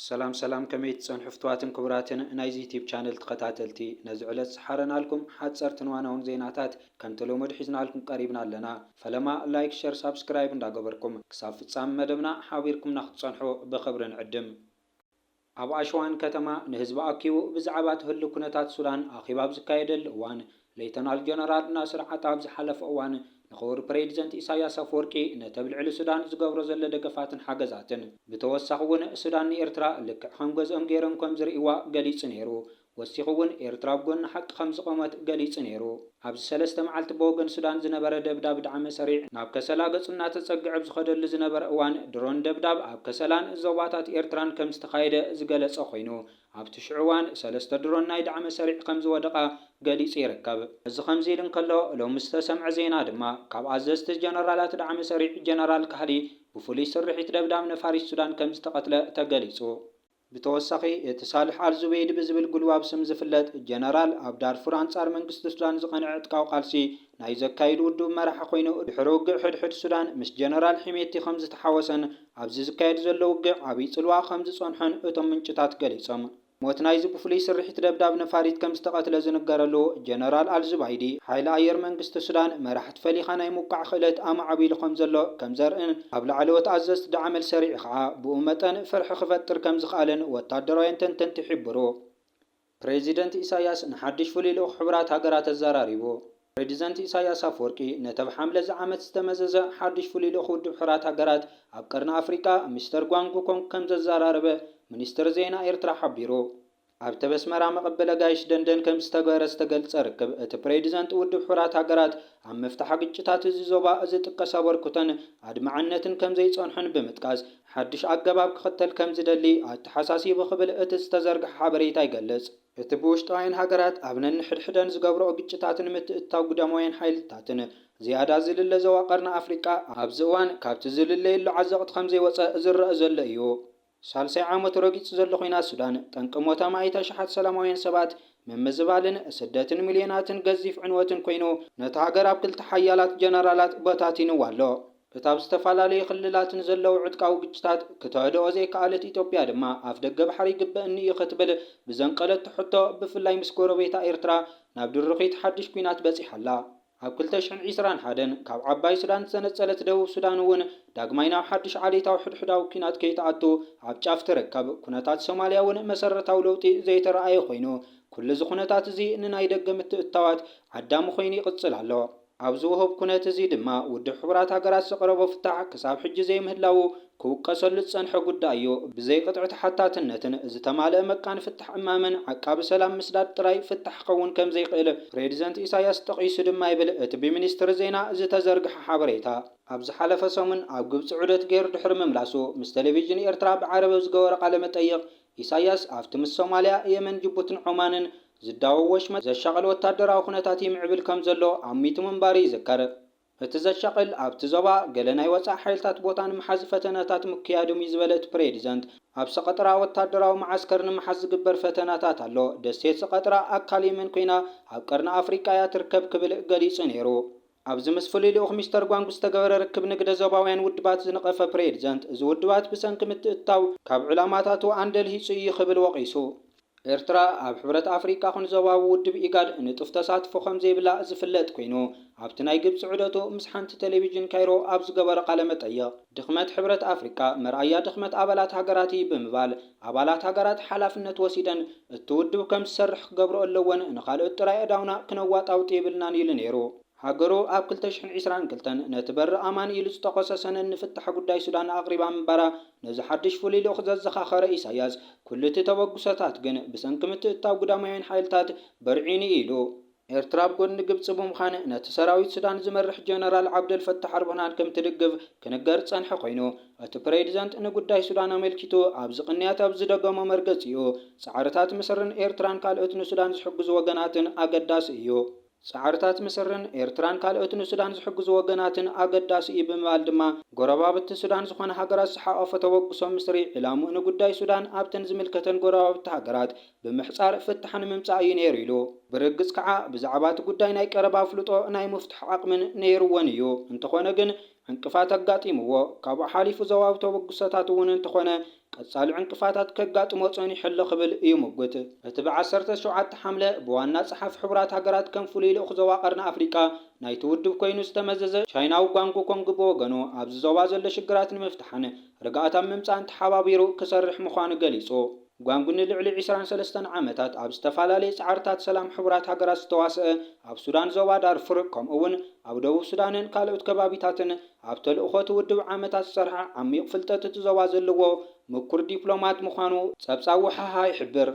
ሰላም ሰላም ከመይ ትጸንሑ ፍትዋትን ክቡራትን ናይዚ ዩቲብ ቻነል ተኸታተልቲ ነዚ ዕለት ዝሓረናልኩም ሓጸርትን ዋናውን ዜናታት ከምቲ ልሙድ ሒዝናልኩም ቀሪብና ኣለና ፈለማ ላይክ ሸር ሳብስክራይብ እንዳገበርኩም ክሳብ ፍጻሚ መደብና ሓቢርኩምና ክትጸንሑ ብኽብሪ ንዕድም። ኣብ ኣሽዋን ከተማ ንህዝቢ ኣኪቡ ብዛዕባ እቲ ህሉው ኩነታት ሱዳን ኣኼባ ኣብ ዝካየደሉ እዋን፣ ሌተናል ጀነራል ናስር ዓጣ ኣብ ዝሓለፈ እዋን ንክቡር ፕሬዲዘንት ኢሳያስ ኣፍወርቂ ነተብልዕሊ ሱዳን ዝገብሮ ዘሎ ደገፋትን ሓገዛትን ብተወሳኺ እውን ሱዳን ንኤርትራ ልክዕ ከም ገዝኦም ገይሮም ከም ዝርእይዋ ገሊጹ ነይሩ። ወሲኹ እውን ኤርትራ ኣብ ጎኒ ሓቂ ከም ዝቖመት ገሊጹ ነይሩ። ኣብዚ ሰለስተ መዓልቲ ብወገን ሱዳን ዝነበረ ደብዳብ ዳዕመ ሰሪዕ ናብ ከሰላ ገጹ እናተጸግዐ ኣብ ዝኸደሉ ዝነበረ እዋን ድሮን ደብዳብ ኣብ ከሰላን ዞባታት ኤርትራን ከም ዝተኻየደ ዝገለጸ ኮይኑ ኣብቲ ሽዑ እዋን ሰለስተ ድሮን ናይ ዳዕመ ሰሪዕ ከም ዝወደቓ ገሊጹ ይርከብ። እዚ ከምዚ ኢሉ እንከሎ፣ ሎሚ ዝተሰምዐ ዜና ድማ፣ ካብ ኣዘዝቲ ጀነራላት ዳዕመ ሰሪዕ ጀነራል ካህሊ ብፍሉይ ስርሒት ደብዳብ ነፋሪት ሱዳን ከም ዝተቐትለ ተገሊጹ። ብተወሳኺ፣ እቲ ሳልሕ ኣል ዙበይዲ ብዝብል ጉልባብ ስም ዝፍለጥ ጀነራል፣ ኣብ ዳርፉር ኣንጻር መንግስቲ ሱዳን ዝቐንዐ ዕጥቃዊ ቃልሲ ናይ ዘካይድ ውዱብ መራሒ ኮይኑ፣ ድሕሪ ውግእ ሕድሕድ ሱዳን ምስ ጀነራል ሒሜቲ ከምዝተሓወሰን ኣብዚ ዝካየድ ዘሎ ውግእ ዓብይ ጽልዋ ከምዝጸንሖን እቶም ምንጭታት ገሊጾም። ሞት ናይዚ ብፍሉይ ስርሒት ደብዳብ ነፋሪት ከምዝተቐትለ ዝንገረሉ ጀነራል ኣልዙባይዲ፣ ሓይሊ ኣየር መንግስቲ ሱዳን መራሕቲ ፈሊኻ ናይ ምውቃዕ ክእለት ኣማዕቢሉ ከምዘሎ ከምዘርእን ኣብ ላዕለዎት ኣዘዝቲ ዳዕመል ሰሪዑ ከኣ ብኡ መጠን ፍርሒ ክፈጥር ከምዝኸኣለን ወታደራውያን ተንተንቲ ይሕብሩ። ፕሬዚደንት ኢሳያስ ንሓዱሽ ፍሉይ ልኡኽ ሕቡራት ሃገራት ኣዘራሪቡ። ፕሬዚደንት ኢሳያስ ኣፍወርቂ ነቲ ብ ሓምለ እዚ ዓመት ዝተመዘዘ ሓዱሽ ፍሉይ ልኡኽ ውድብ ሕራት ሃገራት ኣብ ቀርኒ ኣፍሪቃ ሚስተር ጓንግ ኮንግ ከምዘዘራረበ ሚኒስትሪ ዜና ኤርትራ ሓቢሩ። ኣብ ተበስመራ መቐበሊ ኣጋይሽ ደንደን ከምዝተግበረ ዝተገልጸ ርክብ እቲ ፕሬዚደንት ውድብ ሕራት ሃገራት ኣብ ምፍታሕ ግጭታት እዚ ዞባ ዝጥቀስ ኣበርክቶን ኣድማዕነትን ከምዘይጸንሖን ብምጥቃስ፣ ሓድሽ ኣገባብ ክኽተል ከም ዝደሊ ኣተሓሳሲቡ ክብል እቲ ዝተዘርግሐ ሓበሬታ ይገልጽ። እቲ ብውሽጣውያን ሃገራት ኣብ ነንሕድሕደን ዝገብርኦ ግጭታት ንምትእትታው ግዳማውያን ሓይልታትን ዝያዳ ዝልለ ዞባ ቀርኒ ኣፍሪቃ ኣብዚ እዋን ካብቲ ዝልለየሉ ዓዘቕቲ ከም ዘይወጸ ዝረኣ ዘሎ እዩ። ሳልሳይ ዓመቱ ረጊጹ ዘሎ ኲናት ሱዳን ጠንቂ ሞት ኣማኢት ኣሽሓት ሰላማውያን ሰባት፣ ምምዝባልን ስደትን ሚልዮናትን ገዚፍ ዕንወትን ኮይኑ ነታ ሃገር ኣብ ክልተ ሓያላት ጀነራላት በታቲንዋ ኣሎ። እታ ኣብ ዝተፈላለዩ ክልላት ንዘለዉ ዕጥቃዊ ግጭታት ክተህድኦ ዘይከኣለት ኢትዮጵያ ድማ ኣፍደገ ባሕሪ ይግበእኒ እዩ ክትብል ብዘንቀለቶ ሕቶ ብፍላይ ምስ ጎረቤታ ኤርትራ ናብ ድርኺት ሓድሽ ኲናት በጺሓ ኣላ። ኣብ ክልተ ሽሕን ዒስራን ሓደን ካብ ዓባይ ሱዳን ዝተነጸለት ደቡብ ሱዳን እውን ዳግማይ ናብ ሓድሽ ዓሌታዊ ሕድሕዳዊ ኲናት ከይትኣቱ ኣብ ጫፍ ትርከብ። ኩነታት ሶማልያ እውን መሰረታዊ ለውጢ ዘይተራእየ ኮይኑ ኩሉ'ዚ ኩነታት እዚ ንናይ ደገ ምትእትታዋት ዓዳሚ ኮይኑ ይቕጽል ኣሎ። ኣብዚ ውሁብ ኩነት እዚ ድማ ውድብ ሕቡራት ሃገራት ዘቕረቦ ፍታሕ ክሳብ ሕጂ ዘይምህላዉ ክውቀሰሉ ዝጸንሐ ጉዳይ እዩ። ብዘይ ቅጥዒ ተሓታትነትን ዝተማልአ መቃን ፍታሕ እማመን ዓቃቢ ሰላም ምስዳድ ጥራይ ፍታሕ ክኸውን ከም ዘይክእል ፕሬዚደንት ኢሳይያስ ጠቒሱ ድማ ይብል እቲ ብሚኒስትሪ ዜና ዝተዘርግሐ ሓበሬታ። ኣብ ዝሓለፈ ሰሙን ኣብ ግብጺ ዑደት ገይሩ ድሕሪ ምምላሱ ምስ ቴሌቪዥን ኤርትራ ብዓረብ ኣብ ዝገበሮ ቃለ መጠይቕ፣ ኢሳይያስ ኣብቲ ምስ ሶማልያ፣ የመን፣ ጅቡትን ዖማንን ዝዳወብ ወሽመጥ ዘሻቕል ወታደራዊ ኩነታት ይምዕብል ከም ዘሎ ኣሚቱ ምንባሩ ይዝከር። እቲ ዘሻቕል ኣብቲ ዞባ ገለ ናይ ወጻኢ ሓይልታት ቦታ ንምሓዝ ፈተነታት ምክያዶም'ዩ ዝበለ እቲ ፕሬዚደንት፣ ኣብ ሰቐጥራ ወታደራዊ መዓስከር ንምሓዝ ዝግበር ፈተነታት ኣሎ፣ ደሴት ሰቐጥራ ኣካል የመን ኮይና ኣብ ቀርኒ ኣፍሪቃ'ያ ትርከብ ክብል ገሊጹ ነይሩ። ኣብዚ ምስ ፍሉይ ልኡኽ ሚስተር ጓንግ ዝተገበረ ርክብ ንግደ ዞባውያን ውድባት ዝነቐፈ ፕሬዝደንት፣ እዚ ውድባት ብሰንኪ ምትእትታው ካብ ዕላማታቱ ኣንደልሂጹ እዩ ክብል ወቒሱ። ኤርትራ ኣብ ሕብረት ኣፍሪቃ ኹን ዞባዊ ውድብ ኢጋድ ንጡፍ ተሳትፎ ከምዘይብላ ዝፍለጥ ኮይኑ፣ ኣብቲ ናይ ግብጺ ዑደቱ ምስ ሓንቲ ቴሌቪዥን ካይሮ ኣብ ዝገበሮ ቃለ መጠይቕ፣ ድኽመት ሕብረት ኣፍሪቃ መርኣያ ድኽመት ኣባላት ሃገራት እዪ ብምባል፣ ኣባላት ሃገራት ሓላፍነት ወሲደን እቲ ውድብ ከም ዝሰርሕ ክገብርኦ ኣለወን፣ ንኻልኦት ጥራይ ኣእዳውና ክነዋጣውጥ የብልናን ኢሉ ነይሩ። ሃገሩ ኣብ ክልተ ሽሕን ዒስራን ክልተን ነቲ በሪ ኣማን ኢሉ ዝጠቐሶ ሰነድ ንፍታሕ ጉዳይ ሱዳን ኣቕሪባ ምንባራ ነዚ ሓድሽ ፍሉይ ልኡኽ ዘዘኻኸረ ኢሳይያስ፣ ኩሉ እቲ ተበግሶታት ግን ብሰንኪ ምትእትታው ግዳማውያን ሓይልታት በርዒኑ ኢሉ። ኤርትራ ኣብ ጎድኒ ግብጺ ብምዃን ነቲ ሰራዊት ሱዳን ዝመርሕ ጀነራል ዓብደል ፈታሕ ኣልቡርሃን ከምትድግፍ ክንገር ዝጸንሐ ኮይኑ፣ እቲ ፕሬዚደንት ንጉዳይ ሱዳን ኣመልኪቱ ኣብዚ ቅንያት ኣብ ዝደገሞ መርገጺኡ፣ ጻዕርታት ምስርን ኤርትራን ካልኦት ንሱዳን ዝሕግዙ ወገናትን ኣገዳሲ እዩ። ጻዕርታት ምስርን ኤርትራን ካልኦት ንሱዳን ዝሕግዙ ወገናትን ኣገዳሲ እዩ ብምባል ድማ፣ ጎረባብቲ ሱዳን ዝኾና ሃገራት ዝሓቖፈ ተበግሶ ምስሪ ዒላምኡ ንጉዳይ ሱዳን ኣብተን ዝምልከተን ጎረባብቲ ሃገራት ብምሕጻር ፍታሕ ንምምጻእ እዩ ነይሩ ኢሉ። ብርግጽ ከኣ ብዛዕባ እቲ ጉዳይ ናይ ቀረባ ኣፍልጦ ናይ ምፍትሑ ዓቕምን ነይሩዎን እዩ። እንተኾነ ግን ዕንቅፋት ኣጋጢሙዎ። ካብኡ ሓሊፉ ዞባዊ ተበግሶታት እውን እንተኾነ ቀጻሊ ዕንቅፋታት ከጋጥሞ ጸኒሑ ኣሎ ክብል ይሙግት። እቲ ብ ዓሰርተ ሸውዓተ ሓምለ ብዋና ጸሓፊ ሕቡራት ሃገራት ከም ፍሉይ ልኡኽ ዞባ ቀርኒ ኣፍሪቃ ናይቲ ውድብ ኮይኑ ዝተመዘዘ ቻይናዊ ጓንግ ኮንግ ብወገኑ ኣብዚ ዞባ ዘሎ ሽግራት ንምፍታሕን ርግኣት ኣብ ምምጻእን ተሓባቢሩ ክሰርሕ ምዃኑ ገሊጹ። ጓንጉ ንልዕሊ ዕስራን ሰለስተን ዓመታት ኣብ ዝተፈላለየ ጻዕርታት ሰላም ሕቡራት ሃገራት ዝተዋስአ፣ ኣብ ሱዳን ዞባ ዳርፉር ከምኡ'ውን ኣብ ደቡብ ሱዳንን ካልኦት ከባቢታትን ኣብ ተልእኾ'ቲ ውድብ ዓመታት ዝሰርሐ ዓሚዩቕ ፍልጠት እቲ ዞባ ዘለዎ ምኩር ዲፕሎማት ምዃኑ ጸብጻብ ውሓሃ ይሕብር።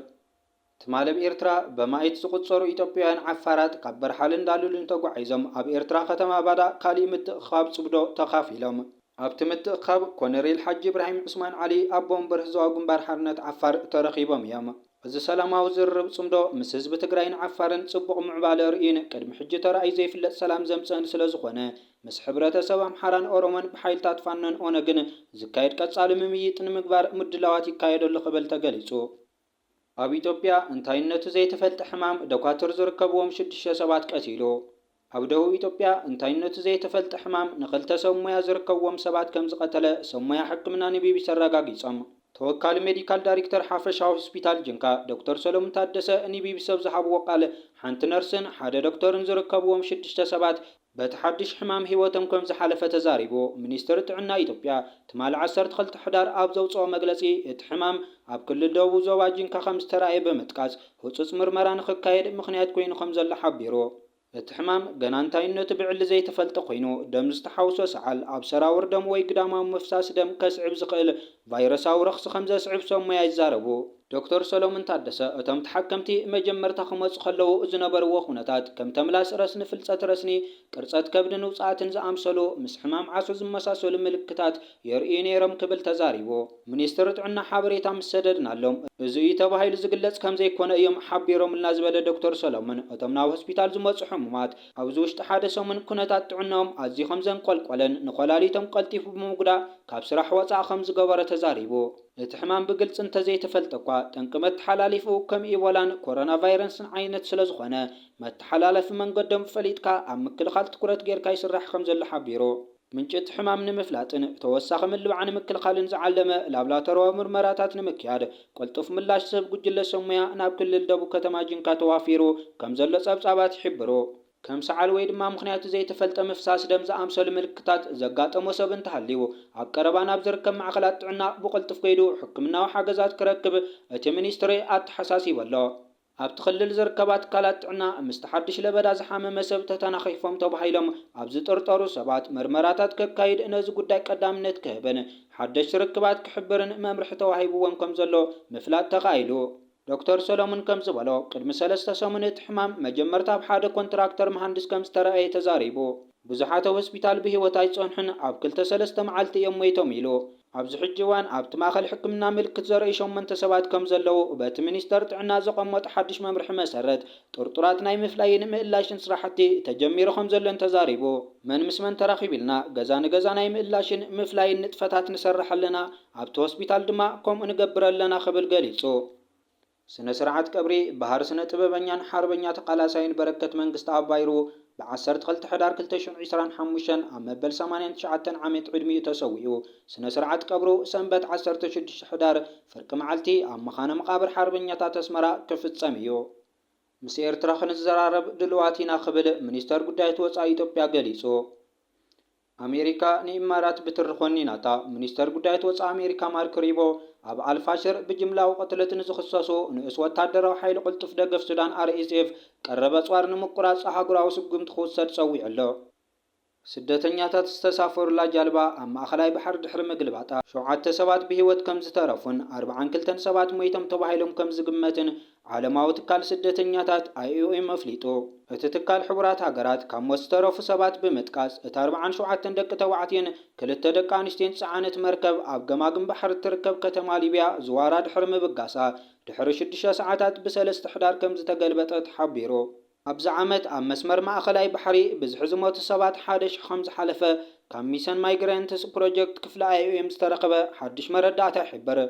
ትማል ኣብ ኤርትራ በማኢት ዝቑጸሩ ኢትዮጵያውያን ዓፋራት ካብ በርሓለን ዳሉልን ተጓዒዞም ኣብ ኤርትራ ከተማ ባዳ ካሊእ ምትእኽኻብ ጽምዶ ተኻፊሎም። ኣብቲ ምትእኽኻብ ኮነሬል ሓጂ ኢብራሂም ዑስማን ዓሊ፣ ኣቦ ወንበር ህዝባዊ ግንባር ሓርነት ዓፋር ተረኺቦም እዮም። እዚ ሰላማዊ ዝርርብ ፅምዶ ምስ ህዝቢ ትግራይን ዓፋርን ፅቡቕ ምዕባለ ኣርእዩን ቅድሚ ሕጂ ተራእዩ ዘይፍለጥ ሰላም ዘምፅእን ስለዝኾነ ምስ ሕብረተሰብ ኣምሓራን ኦሮሞን ብሓይልታት ፋኖን ኦነግን ዝካየድ ቀፃሊ ምምይጥ ንምግባር ምድላዋት ይካየድ ኣሎ ክብል ተገሊፁ። ኣብ ኢትዮጵያ እንታይነቱ ዘይተፈልጠ ሕማም ደኳትር ዝርከብዎም ሽዱሽተ ሰባት ቀቲሉ። ኣብ ደቡብ ኢትዮጵያ እንታይነቱ ዘይተፈልጠ ሕማም ንኽልተ ሰብ ሞያ ዝርከብዎም ሰባት ከምዝቐተለ ሰብ ሞያ ሕክምና ንቢቢሲ ኣረጋጊጾም። ተወካሊ ሜዲካል ዳይሪክተር ሓፈሻዊ ሆስፒታል ጂንካ ዶክተር ሰለሙን ታደሰ ንቢቢሲ ኣብ ዝሃብዎ ቃል ሓንቲ ነርስን ሓደ ዶክተርን ዝርከብዎም ሽዱሽተ ሰባት በቲ ሓዱሽ ሕማም ህይወቶም ከምዝሓለፈ ተዛሪቡ። ሚኒስትሪ ጥዕና ኢትዮጵያ ትማሊ ዓሰርተ ክልተ ሕዳር ኣብ ዘውፅኦ መግለፂ እቲ ሕማም ኣብ ክልል ደቡብ ዞባ ጂንካ ከምዝተርኣየ ብምጥቃስ ህፁፅ ምርመራ ንክካየድ ምኽንያት ኮይኑ ከምዘሎ ሓቢሩ። እቲ ሕማም ገና እንታይነቱ ብዕሊ ዘይተፈልጠ ኮይኑ ደም ዝተሓውሶ ሰዓል ኣብ ሰራውር ደም ወይ ግዳማዊ ምፍሳስ ደም ከስዕብ ዝኽእል ቫይረሳዊ ረኽሲ ከምዘስዕብ ሰብ ሞያ ይዛረቡ። ዶክተር ሰሎሙን ታደሰ፣ እቶም ተሓከምቲ መጀመርታ ክመጹ ከለዉ ዝነበርዎ ኩነታት፣ ከም ተምላስ ረስኒ፣ ፍልጸት ረስኒ፣ ቅርጸት ከብድን ውጽኣትን ዝኣምሰሉ ምስ ሕማም ዓሶ ዝመሳሰሉ ምልክታት የርእዩ ነይሮም ክብል ተዛሪቡ። ሚኒስትሪ ጥዕና ሓበሬታ ምስ ሰደድናሎም፣ እዚ እዩ ተባሂሉ ዝግለጽ ከም ዘይኮነ እዮም ሓቢሮምልና ዝበለ ዶክተር ሰሎሙን፣ እቶም ናብ ሆስፒታል ዝመጹ ሕሙማት፣ ኣብዚ ውሽጢ ሓደ ሰሙን ኩነታት ጥዕንኦም ኣዝዩ ከም ዘንቆልቆለን ንኮላሊቶም ቀልጢፉ ብምጉዳእ ካብ ስራሕ ወጻኢ ከም ዝገበሮ ተዛሪቡ። እቲ ሕማም ብግልፂ እንተዘይተፈልጠ'ኳ ጠንቂ መተሓላሊፍኡ ከም ኢቦላን ኮሮናቫይረንስን ዓይነት ስለዝኾነ መተሓላለፊ መንገዶም ፈሊጥካ ኣብ ምክልኻል ትኩረት ገይርካ ይስራሕ ከምዘሎ ሓቢሩ። ምንጪ እቲ ሕማም ንምፍላጥን ተወሳኺ ምልባዕ ንምክልኻልን ዝዓለመ ላብላቶርያዊ ምርመራታት ንምክያድ ቅልጡፍ ምላሽ ዝህብ ጉጅለ ሰብሞያ ናብ ክልል ደቡብ ከተማ ጂንካ ተዋፊሩ ከምዘሎ ፀብፃባት ይሕብሩ። ከም ሰዓል ወይ ድማ ምኽንያቱ ዘይተፈልጠ ምፍሳስ ደም ዝኣምሰሉ ምልክታት ዘጋጠሞ ሰብ እንተሃልዩ፣ ኣብ ቀረባ ናብ ዝርከብ ማዕኸላት ጥዕና ብቕልጡፍ ከይዱ ሕክምናዊ ሓገዛት ክረክብ እቲ ሚኒስትሪ ኣተሓሳሲቡ ኣሎ። ኣብቲ ክልል ዝርከባ ትካላት ጥዕና፣ ምስቲ ሓድሽ ለበዳ ዝሓመመ ሰብ ተተናኺፎም ተባሂሎም ኣብ ዝጥርጠሩ ሰባት መርመራታት ከካይድ፣ ነዚ ጉዳይ ቀዳምነት ክህብን ሓደሽቲ ርክባት ክሕብርን መምርሒ ተዋሂብዎም ከምዘሎ ምፍላጥ ተኻኢሉ። ዶክተር ሰለሙን ከም ዝበሎ፣ ቅድሚ ሰለስተ ሰሙን እቲ ሕማም መጀመርታ ኣብ ሓደ ኮንትራክተር መሃንድስ ከም ዝተራእየ ተዛሪቡ። ብዙሓት ኣብ ሆስፒታል ብህይወት ኣይጸንሑን፣ ኣብ ክልተ ሰለስተ መዓልቲ እዮም ሞይቶም ኢሉ። ኣብዚ ሕጂ እዋን ኣብቲ ማእከል ሕክምና ምልክት ዘርእዩ ሸሞንተ ሰባት ከም ዘለዉ በቲ ሚኒስተር ጥዕና ዘቐመጦ ሓድሽ መምርሒ መሰረት ጥርጡራት ናይ ምፍላይን ምእላሽን ስራሕቲ ተጀሚሩ ከም ዘሎን ተዛሪቡ። መን ምስ መን ተራኺቡ ኢልና ገዛ ንገዛ ናይ ምእላሽን ምፍላይን ንጥፈታት ንሰርሕ ኣለና። ኣብቲ ሆስፒታል ድማ ከምኡ ንገብር ኣለና ክብል ገሊጹ። ስነ ስርዓት ቀብሪ በሃር ስነ ጥበበኛን ሓርበኛ ተቃላሳይን በረከት መንግስተኣብ ባይሩ ብ ዓሰርተ ክልተ ሕዳር ክልተ ሽሕ ዒስራን ሓሙሽተን ኣብ መበል ሰማንያን ትሽዓተን ዓመት ዕድሚኡ ተሰዊኡ ስነ ስርዓት ቀብሩ ሰንበት ዓሰርተ ሽዱሽተ ሕዳር ፍርቂ መዓልቲ ኣብ መኻነ መቃብር ሓርበኛታት ኣስመራ ክፍጸም እዩ። ምስ ኤርትራ ክንዘራረብ ድሉዋት ኢና ክብል ሚኒስተር ጉዳያት ወጻኢ ኢትዮጵያ ገሊጹ። ኣሜሪካ ንኢማራት ብትሪ ዀኒናታ። ሚኒስተር ጉዳያት ወጻኢ ኣሜሪካ ማርክ ሪቦ፣ ኣብ ኣል-ፋሽር ብጅምላዊ ቅትለት ንዝኽሰሱ ንኡስ ወተሃደራዊ ሓይሊ ቅልጡፍ ደገፍ ሱዳን ኣርኤስኤፍ ቀረብ ኣጽዋር ንምቍራጽ ኣህጉራዊ ስጕምቲ ክውሰድ ጸዊዑ ኣሎ። ስደተኛታት ዝተሳፈሩላ ጃልባ ኣብ ማእከላይ ባሕሪ ድሕሪ ምግልባጣ፣ ሸውዓተ ሰባት ብህይወት ከም ዝተረፉን ኣርብዓን ክልተን ሰባት ሞይቶም ተባሂሎም ከም ዝግመትን ዓለማዊ ትካል ስደተኛታት፣ ኣይኦኤም፣ ኣፍሊጡ። እቲ ትካል ሕቡራት ሃገራት ካብ ሞት ዝተረፉ ሰባት ብምጥቃስ፣ እታ ኣርብዓን ሸውዓተን ደቂ ተባዕትዮን ክልተ ደቂ ኣንስትዮን ዝጸዓነት መርከብ ኣብ ገማግም ባሕሪ እትርከብ ከተማ ሊብያ ዝዋራ ድሕሪ ምብጋሳ ድሕሪ ሽዱሽተ ሰዓታት ብሰለስተ ሕዳር ከምዝተገልበጠት ሓቢሩ። ኣብዚ ዓመት ኣብ መስመር ማእከላይ ባሕሪ ብዝሒ ዝሞቱ ሰባት ሓደ ሽሕ ከምዝሓለፈ ካብ ሚሰን ማይግረንትስ ፕሮጀክት ክፍሊ ኣይኦኤም ዝተረኽበ ሓድሽ መረዳእታ ይሕብር።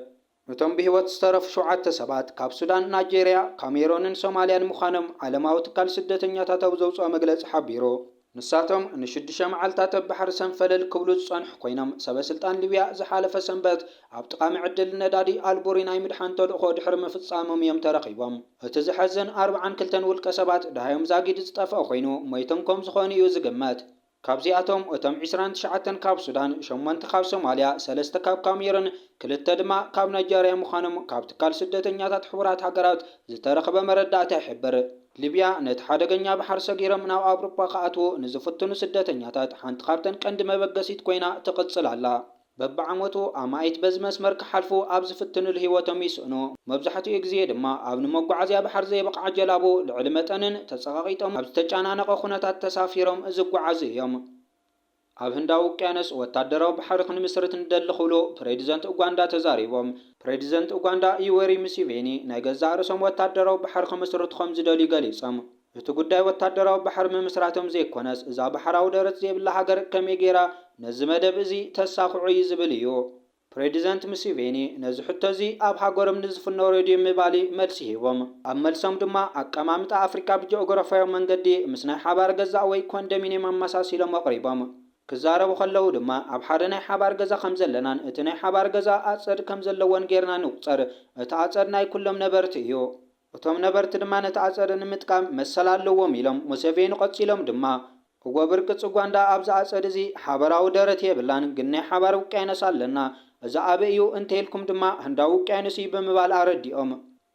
እቶም ብህይወት ዝተረፉ ሸውዓተ ሰባት ካብ ሱዳን፣ ናይጀርያ፣ ካሜሮንን ሶማልያን ምዃኖም ዓለማዊ ትካል ስደተኛታት ኣብ ዘውጽኦ መግለጺ ሓቢሩ። ንሳቶም ንሽዱሽተ መዓልታት ኣብ ባሕሪ ሰንፈለል ክብሉ ዝጸንሑ ኮይኖም፣ ሰበስልጣን ሊብያ ዝሓለፈ ሰንበት ኣብ ጥቓ መዐደሊ ነዳዲ ኣልቡሪ ናይ ምድሓን ተልእኾ ድሕሪ ምፍጻሞም እዮም ተረኺቦም። እቲ ዘሐዝን ኣርብዓን ክልተን ውልቀሰባት ደሃዮም ዛጊድ ዝጠፍኣ ኮይኑ፣ ሞይቶም ከምዝኾኑ እዩ ዝግመት። ካብዚኣቶም እቶም ዕስራን ትሽዓተን ካብ ሱዳን፣ ሸሞንተ ካብ ሶማልያ፣ ሰለስተ ካብ ካሜሩን፣ ክልተ ድማ ካብ ናይጀርያ ምዃኖም ካብ ትካል ስደተኛታት ሕቡራት ሃገራት ዝተረኽበ መረዳእታ ይሕብር። ሊብያ ነቲ ሓደገኛ ባሕሪ ሰጊሮም ናብ ኣውሮጳ ክኣትዉ ንዝፍትኑ ስደተኛታት ሓንቲ ካብተን ቀንዲ መበገሲት ኮይና ትቕጽል ኣላ። በብዓመቱ ኣማኢት በዚ መስመር ክሓልፉ ኣብ ዝፍትንሉ ህይወቶም ይስእኑ። መብዛሕትኡ ግዜ ድማ ኣብ ንመጓዓዝያ ባሕር ዘይበቕዓ ጀላቡ ልዕሊ መጠንን ተጸቓቒጦም ኣብ ዝተጨናነቐ ኩነታት ተሳፊሮም ዝጓዓዙ እዮም። ኣብ ህንዳዊ ውቅያኖስ ወታደራዊ ባሕሪ ክንምስርት ንደሊ ክብሉ ፕሬዚደንት ኡጋንዳ ተዛሪቦም። ፕሬዚደንት ኡጋንዳ ዩዌሪ ሙሴቬኒ ናይ ገዛእ ርእሶም ወታደራዊ ባሕሪ ክምስርቱ ከምዝደልዩ ገሊጾም። እቲ ጉዳይ ወታደራዊ ባሕሪ ምምስራቶም ዘይኮነስ እዛ ባሕራዊ ደረት ዘይብላ ሃገር ከመይ ገይራ ነዚ መደብ እዚ ተሳኽዖ እዩ ዝብል እዩ። ፕሬዲዘንት ሙሴቬኒ ነዚ ሕቶ እዚ ኣብ ሃገሮም ንዝፍኖ ሬድዮ ምባሊ መልሲ ሂቦም። ኣብ መልሶም ድማ ኣቀማምጣ ኣፍሪቃ ብጂኦግራፋያዊ መንገዲ ምስ ናይ ሓባር ገዛ ወይ ኮንደሚንየም ኣመሳሲሎም ኣቕሪቦም። ክዛረቡ ከለዉ ድማ ኣብ ሓደ ናይ ሓባር ገዛ ከም ዘለናን እቲ ናይ ሓባር ገዛ ኣጸድ ከም ዘለዎን ገይርና ንቑጸር፣ እቲ ኣጸድ ናይ ኩሎም ነበርቲ እዩ። እቶም ነበርቲ ድማ ነቲ ኣፀደ ንምጥቃም መሰል ኣለዎም ኢሎም። ሙሴቬኒ ቐፂሎም ድማ እወ ብርቂ ፅጓንዳ ኣብዚ ኣፀድ እዚ ሓበራዊ ደረት የብላን ግን ናይ ሓባር ውቅያኖስ ኣለና እዚ ኣበይ እዩ እንተይልኩም ድማ ህንዳዊ ውቅያኖስ እዩ ብምባል ኣረዲኦም።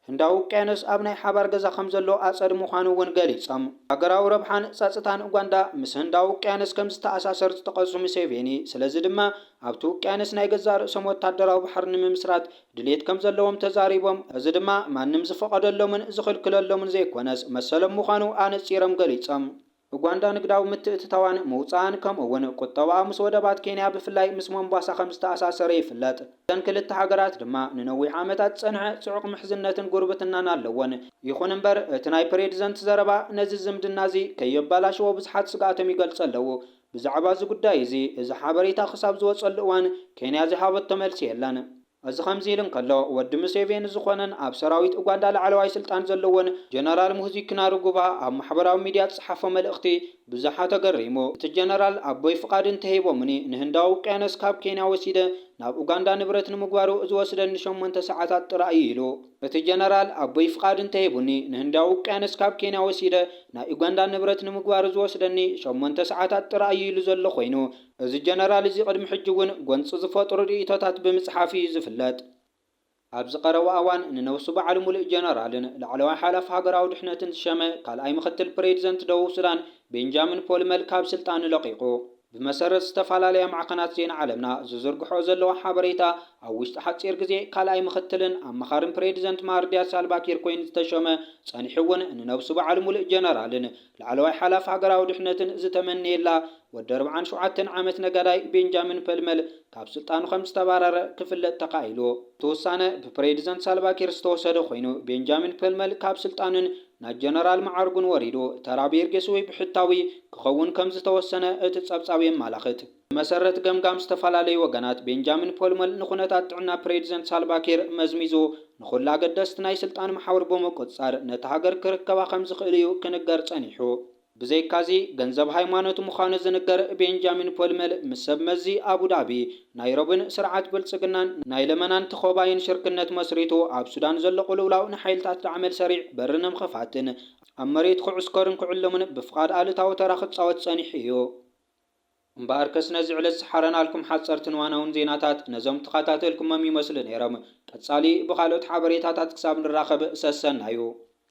ህንዳዊ ውቅያኖስ ኣብ ናይ ሓባር ገዛ ከምዘሎ ኣፀድ ምዃኑ እውን ገሊፆም። ሃገራዊ ረብሓን ፀፅታን ኡጋንዳ ምስ ህንዳዊ ውቅያኖስ ከምዝተኣሳሰር ዝጠቐሱ ሙሴቬኒ ስለዚ ድማ ኣብቲ ውቅያኖስ ናይ ገዛእ ርእሶም ወታደራዊ ባሕሪ ንምምስራት ድሌት ከም ዘለዎም ተዛሪቦም፣ እዚ ድማ ማንም ዝፈቐደሎምን ዝኽልክለሎምን ዘይኮነስ መሰሎም ምዃኑ ኣነጺሮም ገሊጾም። ኡጋንዳ ንግዳዊ ምትእትታዋን ምውጻኣን ከምኡ'ውን ቁጠባኣ ምስ ወደባት ኬንያ ብፍላይ ምስ ሞምባሳ ከም ዝተኣሳሰረ ይፍለጥ። እተን ክልተ ሃገራት ድማ ንነዊሕ ዓመታት ዝጸንሐ ጽዑቕ ምሕዝነትን ጉርብትናን ኣለወን። ይኹን እምበር እቲ ናይ ፕሬድዘንት ዘረባ ነዚ ዝምድና'ዚ ከየበላሽዎ ብዙሓት ስግኣቶም ይገልጹ ኣለዉ። ብዛዕባ እዚ ጉዳይ እዚ እዚ ሓበሬታ ክሳብ ዝወጸሉ እዋን ኬንያ ዝሃበቶ መልሲ የለን። እዚ ከምዚ ኢሉ እንከሎ፣ ወዲ ሙሴቬኒ ዝኾነን ኣብ ሰራዊት ኡጋንዳ ላዕለዋይ ስልጣን ዘለዎን ጀነራል ሙህዚ ኪናሩጉባ ኣብ ማሕበራዊ ሚድያ ዝጸሓፎ መልእኽቲ ብዙሓት ኣገሪሙ። እቲ ጀነራል ኣቦይ ፍቓድ እንተሂቦሙኒ ንህንዳዊ ውቅያኖስ ካብ ኬንያ ወሲደ ናብ ኡጋንዳ ንብረት ንምግባሩ ዝወስደኒ ሸሞንተ ሰዓታት ጥራይ እዩ ኢሉ። እቲ ጀነራል ኣቦይ ፍቓድ እንተሂቡኒ፣ ንህንዳዊ ውቅያኖስ ካብ ኬንያ ወሲደ ናይ ኡጋንዳ ንብረት ንምግባሩ ዝወስደኒ ሸሞንተ ሰዓታት ጥራይ እዩ ኢሉ ዘሎ ኮይኑ፣ እዚ ጀነራል እዚ ቅድሚ ሕጂ እውን ጎንጺ ዝፈጥሩ ርእይቶታት ብምጽሓፍ እዩ ዝፍለጥ። ኣብዚ ቀረባ እዋን ንነብሱ በዓል ሙሉእ ጀነራልን ላዕለዋይ ሓላፊ ሃገራዊ ድሕነትን ዝሸመ ካልኣይ ምኽትል ፕሬዚደንት ደቡብ ሱዳን ቤንጃሚን ፖል መል ካብ ስልጣኑ ለቒቑ። ብመሰረት ዝተፈላለያ ማዕኸናት ዜና ዓለምና ዝዝርግሕኦ ዘለዋ ሓበሬታ፣ ኣብ ውሽጢ ሓጺር ግዜ ካልኣይ ምኽትልን ኣማኻርን ፕሬዚደንት ማህርዲያት ሳልቫኪር ኮይኑ ዝተሾመ፣ ጸኒሑ እውን ንነብሱ በዓል ሙሉእ ጀነራልን ላዕለዋይ ሓላፊ ሃገራዊ ድሕነትን ዝተመነየላ ወዲ ኣርብዓን ሸውዓተን ዓመት ነጋዳይ ቤንጃሚን ፐልመል ካብ ስልጣኑ ከም ዝተባረረ ክፍለጥ ተኻኢሉ። እቲ ውሳነ ብፕሬዚደንት ሳልቫኪር ዝተወሰደ ኮይኑ ቤንጃሚን ፐልመል ካብ ስልጣኑን ናይ ጀነራል መዓርጉን ወሪዱ ተራ ቢርጌስ ወይ ብሕታዊ ክኸውን ከም ዝተወሰነ እቲ ፀብፃብ የማላኽት። ብመሰረት ገምጋም ዝተፈላለዩ ወገናት ቤንጃሚን ፖልመል ንኩነታት ጥዕና ፕሬዚደንት ሳልቫኪር መዝሚዙ ንኹሉ ኣገደስቲ ናይ ስልጣን መሓውር ብምቁፅፃር ነታ ሃገር ክርከባ ከም ዝኽእል'ዩ ክንገር ፀኒሑ። ብዘይካዚ፣ ገንዘብ ሃይማኖት ምዃኑ ዝንገር ቤንጃሚን ፖልመል ምስ ሰብ መዚ ኣቡዳቢ፣ ናይሮብን ስርዓት ብልጽግናን ናይ ለመናን ተኾባይን ሽርክነት መስሪቱ ኣብ ሱዳን ዘሎ ቅልውላው ንሓይልታት ዳዕመል ሰሪዕ በሪ ንምኽፋትን ኣብ መሬት ክዕስከሩን ክዕልሙን ብፍቓድ ኣሉታዊ ተራ ክጻወት ጸኒሑ እዩ። እምበኣርከስ ነዚ ዕለት ዝሓረናልኩም ሓጸርትን እዋናውን ዜናታት ነዞም ተኻታተልኩሞም ይመስሉ ነይሮም። ቀጻሊ ብኻልኦት ሓበሬታታት ክሳብ ንራኸብ ሰሰናዩ።